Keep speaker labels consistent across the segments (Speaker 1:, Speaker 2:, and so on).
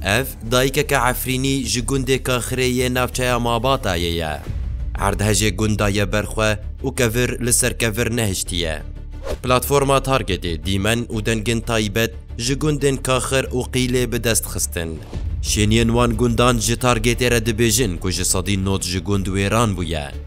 Speaker 1: Ev dayikeke Efrînî ji gundê Kaxirê yê navçeya Mabatayê ye. Erdhejê gunda ye ber xwe û kevir li ser kevir nehiştiye. Platforma Targetê dîmen û dengên taybet ji gundên Kaxir û Qîlê bi dest xistin. Şêniyên wan gundan ji Targetê re dibêjin ku ji sedî nod ji gund wêran bûye.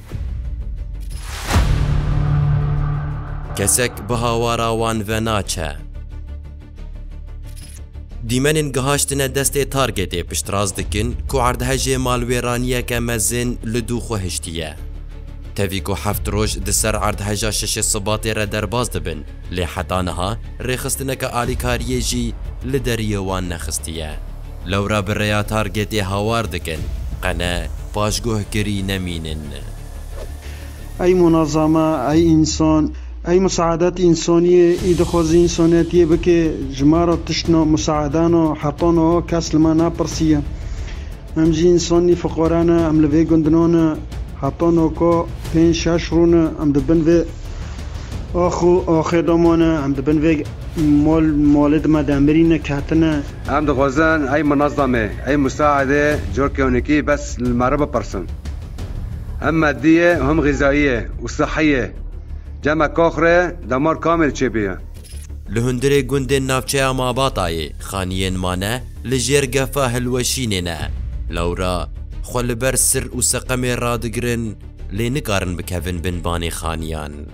Speaker 1: Kesek bi hawara wan ve naçe. Dîmenên gihaştine destê targetê piştrast dikin ku erdhejê malwêraniyeke mezin li dû xwe hiştiye. Tevî ku heft roj di ser erdheja şeşê Sibatê re derbas dibin lê heta niha rêxistineke alîkariyê jî li deriyê wan nexistiye. Lewra bi rêya targetê hawar dikin, qene paşguhkirî nemînin. Ey munazama, ey însan, ey musaedat însaniyê, ê dixwaze însaniyetiyê bike, ji ma re tiştna, musaedana, heqan a kes li me napirsiye. Em jî însanî fiqare ne, em li vê gundinan ne, heta naka pênc şeş rû ne, em di bin vê ax û axê de mane, em di bin vê mal malê di me de mirîne, ketine. Em dixwazin ey munezemê, ey musaedê corkewnekî bes li me re bipirsin. Him meddî ye û him xîzayî ye û sihî ye. Cema Kox re damar kamê diçe pê ye? Li hundirê gundên navçeya Mabatayê xaniyên mane li jêr gefa hilweşînê ne. Lewra xwe li ber sir û seqemê radigirin lê nikarin bikevin bin vanê xaniyan.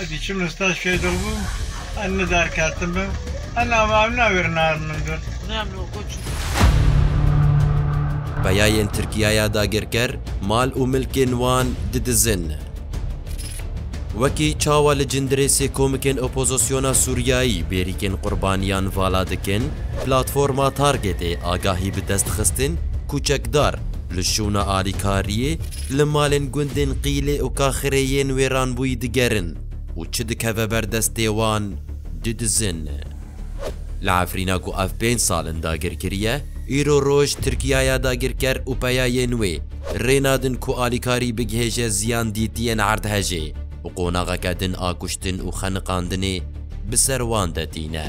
Speaker 1: Ez diçim li staj kê dil bûm, ez ne derketibim, ez nava ew ne wêr narin min dil. Peyayên Tirkiyaya dagirker mal û milkên wan didizin. Wekî çawa li Cindirêsê komikên opozisyona Sûriyayî bêrîkên qurbaniyan vala dikin, Platforma Targetê agahî bi dest xistin ku çekdar li şûna alîkariyê, Li malên gundên Qîlê û Kaxirê yên wêranbûyî digerin û çi dikeve ber destê wan didizin. Li Efrîna ku ev pênc sal in dagir kiriye, îro roj Tirkiyaya dagirker û peyayên wê rê nadin ku alîkarî bigihêje ziyan dîtiyên erdhejê û qonaxeke din a kuştin û xeniqandinê bi ser wan de tîne.